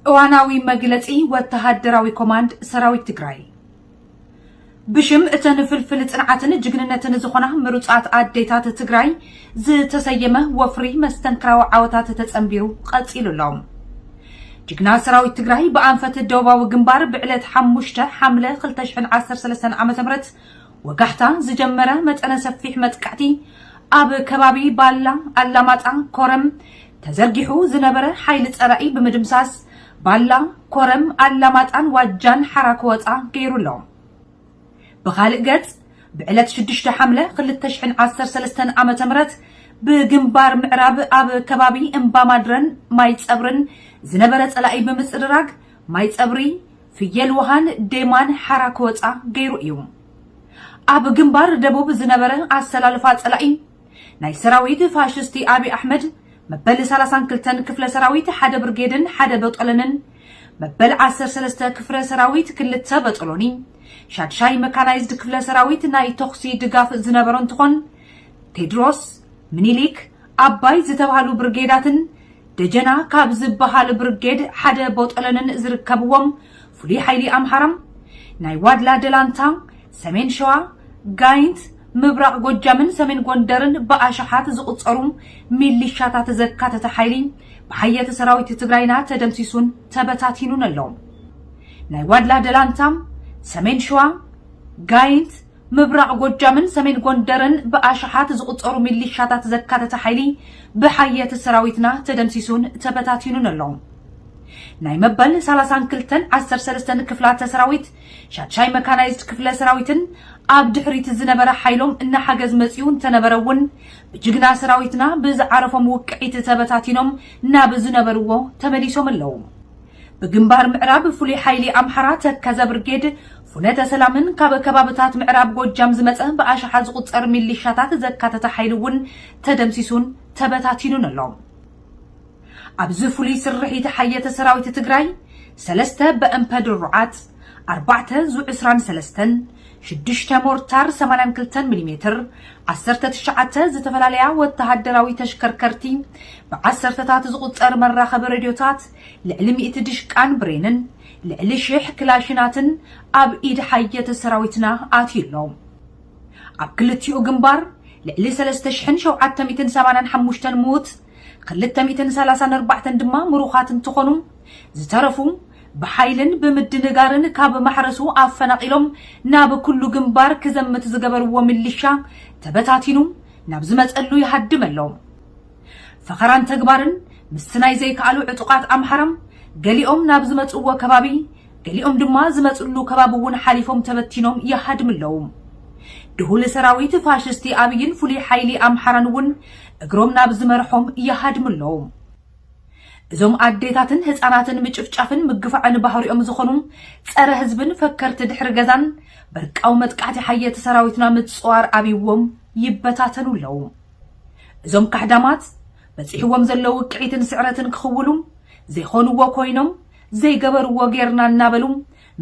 እዋናዊ መግለጺ ወተሃደራዊ ኮማንድ ሰራዊት ትግራይ ብሽም እተን ፍልፍል ጽንዓትን ጅግንነትን ዝኾና ምሩፃት ኣዴታት ትግራይ ዝተሰየመ ወፍሪ መስተንክራዊ ዓወታት ተጸንቢሩ ቀጺሉ ኣሎ። ጅግና ሰራዊት ትግራይ ብኣንፈት ደቡባዊ ግንባር ብዕለት ሓሙሽተ ሓምለ 2013 ዓ ም ወጋሕታ ዝጀመረ መጠነ ሰፊሕ መጥቃዕቲ ኣብ ከባቢ ባላ፣ ኣላማጣ፣ ኮረም ተዘርጊሑ ዝነበረ ሓይሊ ፀላኢ ብምድምሳስ ባላ፣ ኮረም፣ ኣላማጣን ዋጃን ሓራ ክወፃ ገይሩ ኣሎ። ብኻልእ ገፅ ብዕለት ሽዱሽተ ሓምለ ክልተ ሽሕን ዓሰርተ ሰለስተን ዓመተ ምህረት ብግንባር ምዕራብ ኣብ ከባቢ እምባማድረን ማይፀብርን ዝነበረ ፀላኢ ብምፅርራግ ማይፀብሪ፣ ፍየል ውሃን ዴማን ሓራ ክወጻ ገይሩ እዩ። ኣብ ግንባር ደቡብ ዝነበረ ኣሰላልፋ ጸላኢ ናይ ሰራዊት ፋሽስቲ ኣብይ ኣሕመድ መበል ሰላሳን ክልተን ክፍለ ሰራዊት ሓደ ብርጌድን ሓደ በጦለንን መበል ዓሰርተ ሰለስተ ክፍረ ሰራዊት ክልተ በጦሎኒ ሻድሻይ መካናይዝድ ክፍለ ሰራዊት ናይ ተኹሲ ድጋፍ ዝነበሮ እንትኾን ቴድሮስ ምኒሊክ ኣባይ ዝተብሃሉ ብርጌዳትን ደጀና ካብ ዝበሃል ብርጌድ ሓደ ቦጦሎንን ዝርከብዎም ፍሉይ ሓይሊ ኣምሓራ፣ ናይ ዋድላ ደላንታ፣ ሰሜን ሸዋ፣ ጋይንት፣ ምብራቕ ጎጃምን ሰሜን ጎንደርን ብኣሽሓት ዝቑጸሩ ሚሊሻታት ዘካተተ ሓይሊ ብሓየት ሰራዊት ትግራይና ተደምሲሱን ተበታቲኑን ኣሎ። ናይ ዋድላ ደላንታ፣ ሰሜን ሸዋ፣ ጋይንት፣ ምብራቕ ጎጃምን ሰሜን ጎንደርን ብኣሽሓት ዝቑጸሩ ሚሊሻታት ዘካተተ ሓይሊ ብሓየት ሰራዊትና ተደምሲሱን ተበታቲኑን ኣሎ። ናይ መበል ሰላሳን ክልተን ዓሰርተ ሰለስተን ክፍላተ ሰራዊት ሻድሻይ መካናይዝድ ክፍለ ሰራዊትን ኣብ ድሕሪት ዝነበረ ሓይሎም እናሓገዝ መጺኡ እንተነበረ እውን ብጅግና ሰራዊትና ብዝዓረፎም ውቅዒት ተበታቲኖም ናብ ዝነበርዎ ተመሊሶም ኣለዉ። ብግንባር ምዕራብ ፍሉይ ሓይሊ ኣምሓራ ተከዘ ብርጌድ ፉነተ ሰላምን ካብ ከባብታት ምዕራብ ጎጃም ዝመፀ ብኣሽሓት ዝቑፀር ሚሊሻታት ዘካተተ ሓይሊ እውን ተደምሲሱን ተበታቲኑን ኣሎ። ኣብዚ ፍሉይ ስርሒት ሓየተ ሰራዊት ትግራይ ሰለስተ በእምፐ ድሩዓት፣ ኣርባዕተ ዙ ዕስራን ሰለስተን፣ ሽዱሽተ ሞርታር ሰማንያን ክልተን ሚሊ ሜትር፣ ዓሰርተ ትሽዓተ ዝተፈላለያ ወተሃደራዊ ተሽከርከርቲ፣ ብዓሰርተታት ዝቑፀር መራኸቢ ሬድዮታት፣ ልዕሊ ሚእቲ ድሽቃን ብሬንን ልዕሊ ሽሕ ክላሽናትን ኣብ ኢድ ሓየተ ሰራዊትና ኣትዩ ኣሎ። ኣብ ክልቲኡ ግንባር ልዕሊ ሰለስተ ሽሕን ሸውዓተ ሚእትን ሰማንያን ሓሙሽተን ምዉት፣ ክልተ ሚእትን ሰላሳን ኣርባዕተን ድማ ምሩኻት እንትኾኑ፣ ዝተረፉ ብሓይልን ብምድንጋርን ካብ ማሕረሱ ኣፈናቒሎም ናብ ኩሉ ግንባር ክዘምት ዝገበርዎ ሚሊሻ ተበታቲኑ ናብ ዝመፀሉ ይሃድም ኣሎ። ፈኸራን ተግባርን ምስቲ ናይ ዘይከኣሉ ዕጡቓት ኣምሓራ፣ ገሊኦም ናብ ዝመጽእዎ ከባቢ፣ ገሊኦም ድማ ዝመጽእሉ ከባቢ እውን ሓሊፎም ተበቲኖም ይሃድሙ ኣለዉ። ድሁል ሰራዊት ፋሽስቲ ኣብይን ፍሉይ ሓይሊ ኣምሓራን እውን እግሮም ናብ ዝመርሖም ይሃድሙ ኣለዉ። እዞም ኣዴታትን ህጻናትን ምጭፍጫፍን ምግፋዕን ባህሪኦም ዝኾኑ ጸረ ህዝብን ፈከርቲ ድሕሪ ገዛን፣ በርቃዊ መጥቃዕቲ ሓየቲ ሰራዊትና ምጽዋር ኣብይዎም ይበታተኑ ኣለዉ። እዞም ካሕዳማት በጺሕዎም ዘሎ ውቅዒትን ስዕረትን ክኽውሉ ዘይኾንዎ ኮይኖም ዘይገበርዎ ጌርና እናበሉ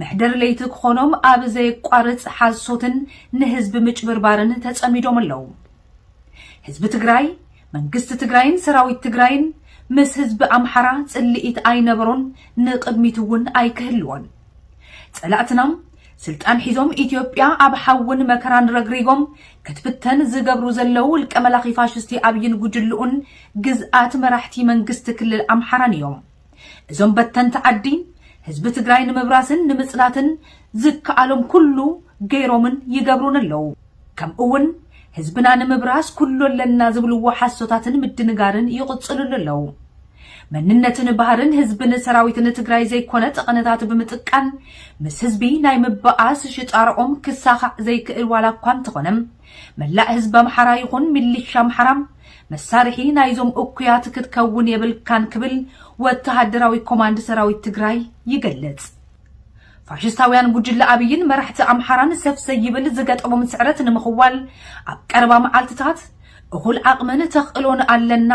መሕደር ለይቲ ክኾኖም ኣብ ዘየቋርጽ ሓሶትን ንህዝቢ ምጭብርባርን ተጸሚዶም ኣለዉ። ህዝቢ ትግራይ፣ መንግስቲ ትግራይን ሰራዊት ትግራይን ምስ ህዝቢ ኣምሓራ ጽልኢት ኣይነበሮን ንቕድሚት'ውን ኣይክህልዎን። ጸላእትና ስልጣን ሒዞም ኢትዮጵያ ኣብ ሓውን መከራን ረግሪጎም ክትብተን ዝገብሩ ዘለዉ ውልቀ መላኺ ፋሽስቲ ኣብይን ጉጅልኡን ግዝኣት መራሕቲ መንግስቲ ክልል ኣምሓራን እዮም። እዞም በተንቲ ዓዲ ህዝቢ ትግራይ ንምብራስን ንምፅናትን ዝከኣሎም ኩሉ ገይሮምን ይገብሩን ኣለዉ። ከምኡ እውን ህዝብና ንምብራስ ኩሉ ኣለና ዝብልዎ ሓሶታትን ምድንጋርን ይቕፅልሉ ኣለው። መንነትን ባህርን ህዝብን ሰራዊትን ትግራይ ዘይኮነ ጠቐነታት ብምጥቃን ምስ ህዝቢ ናይ ምበኣስ ሽጣርኦም ክሳኻዕ ዘይክእል ዋላ እኳ እንተኾነ መላእ ህዝቢ ኣምሓራ ይኹን ሚሊሻ ኣምሓራ መሳርሒ ናይዞም እኩያት ክትከውን የብልካን ክብል ወተሃደራዊ ኮማንድ ሰራዊት ትግራይ ይገልፅ። ፋሽስታውያን ጉጅለ ኣብይን መራሕቲ ኣምሓራን ሰፍ ዘይብል ዝገጠሞም ስዕረት ንምኽዋል ኣብ ቀረባ መዓልትታት እኹል ዓቕምን ተኽእሎን ኣለና፣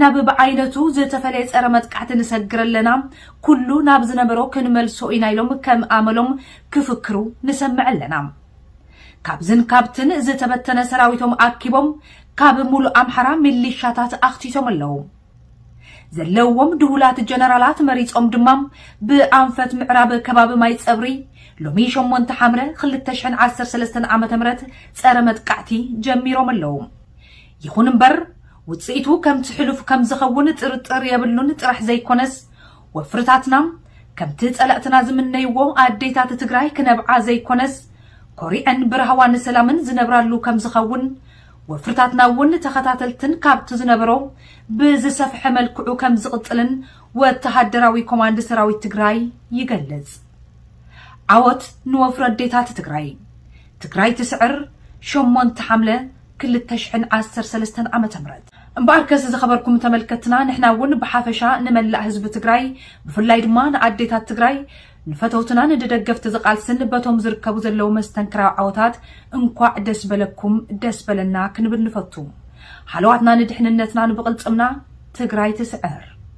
ናብ ብዓይነቱ ዝተፈለየ ፀረ መጥቃዕቲ ንሰግር ኣለና፣ ኩሉ ናብ ዝነበሮ ክንመልሶ ኢና ኢሎም ከም ኣመሎም ክፍክሩ ንሰምዕ ኣለና። ካብዝን ካብትን ዝተበተነ ሰራዊቶም ኣኪቦም ካብ ሙሉእ ኣምሓራ ሚሊሻታት ኣኽቲቶም ኣለው። ዘለዎም ድሁላት ጀነራላት መሪጾም ድማ ብኣንፈት ምዕራብ ከባቢ ማይ ጸብሪ ሎሚ ሸሞንተ ሓምለ ክልተ ሽሕን ዓሰርተ ሰለስተን ዓመተ ምህረት ጸረ መጥቃዕቲ ጀሚሮም ኣለዉ። ይኹን እምበር ውጽኢቱ ከምቲ ሕሉፍ ከም ዝኸውን ጥርጥር የብሉን ጥራሕ ዘይኮነስ ወፍርታትና ከምቲ ጸላእትና ዝምነይዎ ኣዴታት ትግራይ ክነብዓ ዘይኮነስ ኮሪዐን ብራህዋን ሰላምን ዝነብራሉ ከም ዝኸውን ወፍርታትና እውን ተኸታተልትን ካብቲ ዝነበሮ ብዝሰፍሐ መልክዑ ከም ዝቕፅልን ወተሃደራዊ ኮማንድ ሰራዊት ትግራይ ይገልፅ። ዓወት ንወፍሪ ኣዴታት ትግራይ! ትግራይ ትስዕር ሸሞንተ ሓምለ ክልተ ሽሕን ዓሰርተ ሰለስተን ዓመተ ምህረት። እምበኣርከስ ዝኸበርኩም ተመልከትትና ንሕና እውን ብሓፈሻ ንመላእ ህዝቢ ትግራይ ብፍላይ ድማ ንኣዴታት ትግራይ ንፈተውትናን ንደገፍቲ ዝቓልስን በቶም ዝርከቡ ዘለዉ መስተንክራዊ ዓወታት እንኳዕ ደስ በለኩም ደስ በለና ክንብል ንፈቱ። ሃለዋትና ንድሕንነትናን ብቕልፅምና ትግራይ ትስዕር!